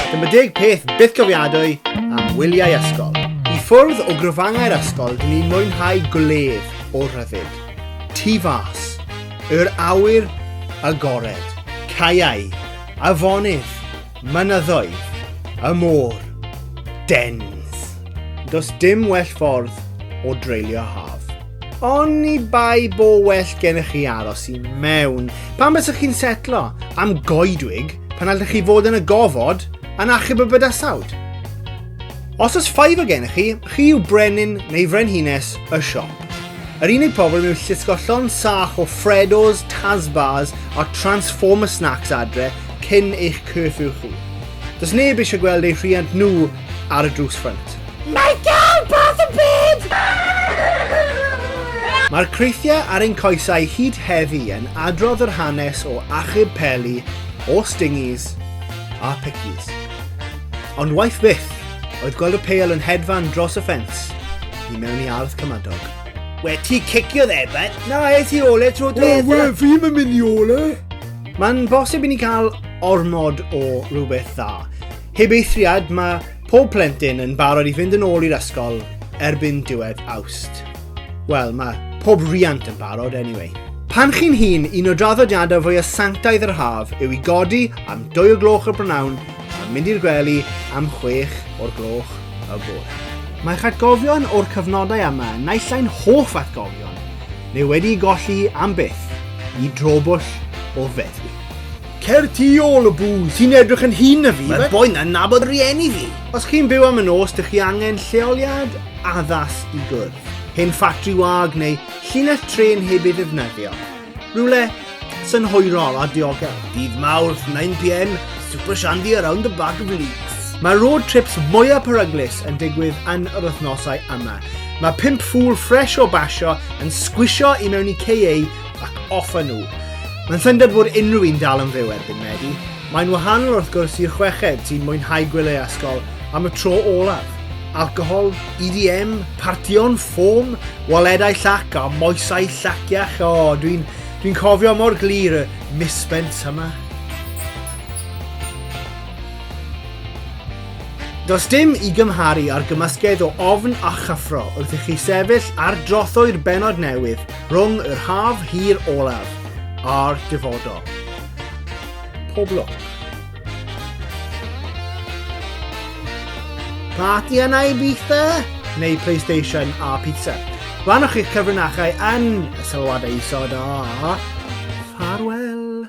Dyma deg peth byth gofiadwy am wyliau ysgol. I ffwrdd o grofangau'r ysgol, dyn ni'n mwynhau gwledd o rhyddid. Tu fas, yr awyr agored, caeau, afonydd, mynyddoedd, y môr, dens. Does dim well ffordd o dreulio haf. Oni bai bo well gennych chi aros i mewn. Pan bysych chi'n setlo am goedwig, pan allech chi fod yn y gofod, yn achub y bydasawd. Os oes ffaif o gennych chi, chi yw brenin neu frenhines y siop. Yr unig problem yw llusgo llon sach o Freddos, Tasbars a Transformer Snacks adre cyn eich curfew chi. Does neb eisiau gweld eu rhiant nhw ar y drws ffrynt. Mae gael bath o bed! Mae'r creithiau ar ein coesau hyd heddi yn adrodd yr hanes o achub peli, o stingies a pickies. Ond waith byth oedd gweld y peil yn hedfan dros y ffens i mewn i ardd cymadog. We ti cicio dde, bud? Na, es i ole tro dweud. Wel, we, fi mae'n mynd i ole. Mae'n bosib i ni cael ormod o rhywbeth dda. Heb eithriad, mae pob plentyn yn barod i fynd yn ôl i'r ysgol erbyn diwedd awst. Wel, mae pob riant yn barod, anyway. Pan chi'n hun, un o draddodiadau fwy o sanctaidd yr haf yw i godi am 2 o gloch y brynawn a mynd i'r gwely am 6 o'r gloch y bore. Mae'ch atgofion o'r cyfnodau yma, naill ai'n hoff atgofion, neu wedi golli am byth, i drobwll o feddwi. Cer tu ôl o booth. Ti'n edrych yn hŷn na fi. Mae'r boi na'n nabod rieni fi. Os chi'n byw am y nos, dych chi angen lleoliad addas i gwrdd. Hen ffatri wag neu llinell tren heb ei ddefnyddio. Rhywle synhwyrol a diogel. Dydd Mawrth, 9pm, Super Shandy around the bag of leeks. Mae road trips mwyaf peryglus yn digwydd yn yr wythnosau yma. Mae pimp ffŵl ffres o basio yn sgwisio i mewn i KA ac off â nhw. Mae'n syndod fod unrhyw un dal yn fyw erbyn Medi. Mae'n wahanol wrth gwrs i'r chweched sy'n mwynhau gwylio ysgol am y tro olaf. Alcohol, EDM, partion, ffôn, waledau llac a moesau llaciach. O, oh, dwi'n dwi cofio mor glir y misbent yma. Does dim i gymharu ar gymysgedd o ofn a chyffro wrth i chi sefyll ar drothoi'r benod newydd Rhwng yr haf hir olaf a'r dyfodol. Pob lwc. Party yna i bitha? Neu PlayStation a pizza? Rhanwch eich cyfrinachau yn y sylwadau isod a... Farwell!